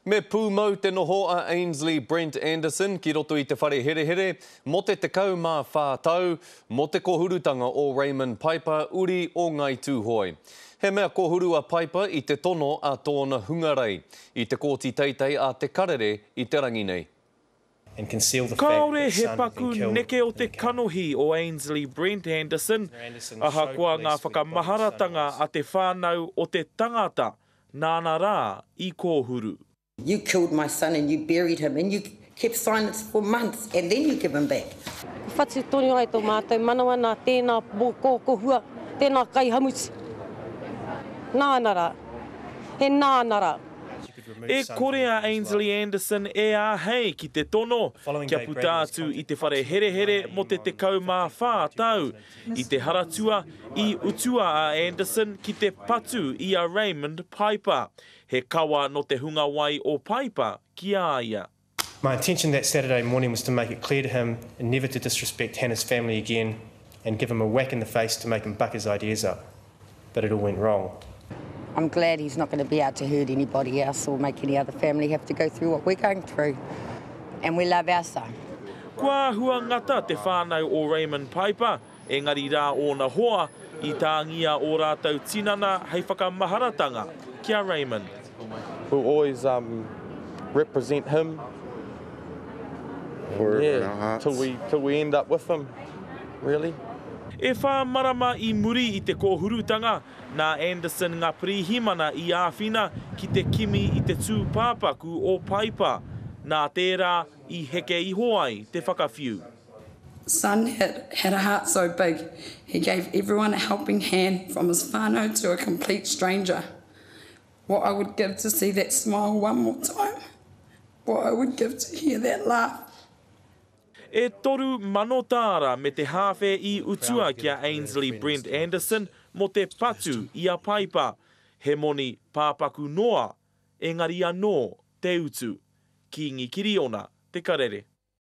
Me pūmau te noho a Ainsley Brent Anderson ki roto i te whare herehere mō te 14 tau mō te kōhurutanga o Raymond Piper, uri o Ngāi Tūhoe. He mea kōhuru a Piper i te tono a tōna hungarei i te Kōti Teitei a Te Karere i te rangi nei. Kāore he paku neke o te kanohi o Ainsley Brent Anderson, ahakoa ngā whakamaharatanga a te whānau o te tangata Nāna rā i kōhuru. You killed my son and you buried him and you kept silence for months and then you give him back. Ka whatu tonu ai tō mātou manawa nā tēnā mōkōkohua, tēnā kaihamuti. Nāna rā. He nāna rā. E kore a Ainsley Anderson e āhei ki te tono kia puta atu i te whare herehere mō te 14 tau I te Haratua, i utua a Anderson ki te patu i a Raymond Piper, he kawa nō te hunga wai o Piper ki a ia. My intention that Saturday morning was to make it clear to him never to disrespect Hannah's family again and give him a whack in the face to make him buck his ideas up. but it all went wrong. I'm glad he's not going to be out to hurt anybody else or make any other family have to go through what we're going through and we love our son. Kua āhua ngata te whānau o Raymond Piper, engari rā ōna hoa, i tāngia ō rātou tinana hei whakamaharatanga ki a Raymond. We'll always um, represent him Forever yeah, in our hearts. Till we, till we end up with him, really. E whā marama i muri i te kōhurutanga, nā Anderson Ngā Pirihimana i āwhina ki te kimi i te tūpāpaku o Paipa, nā tērā i heke iho ai te whakawhiu. son had had a heart so big, he gave everyone a helping hand from his whānau to a complete stranger. What I would give to see that smile one more time What I would give to hear that laugh. E toru mano tāra me te hāwhe i utua ki a Ainsley Brent Anderson mō te patu i a Paipa, he moni pāpaku noa, engari anō te utu. Kīngi Kiriona te karere.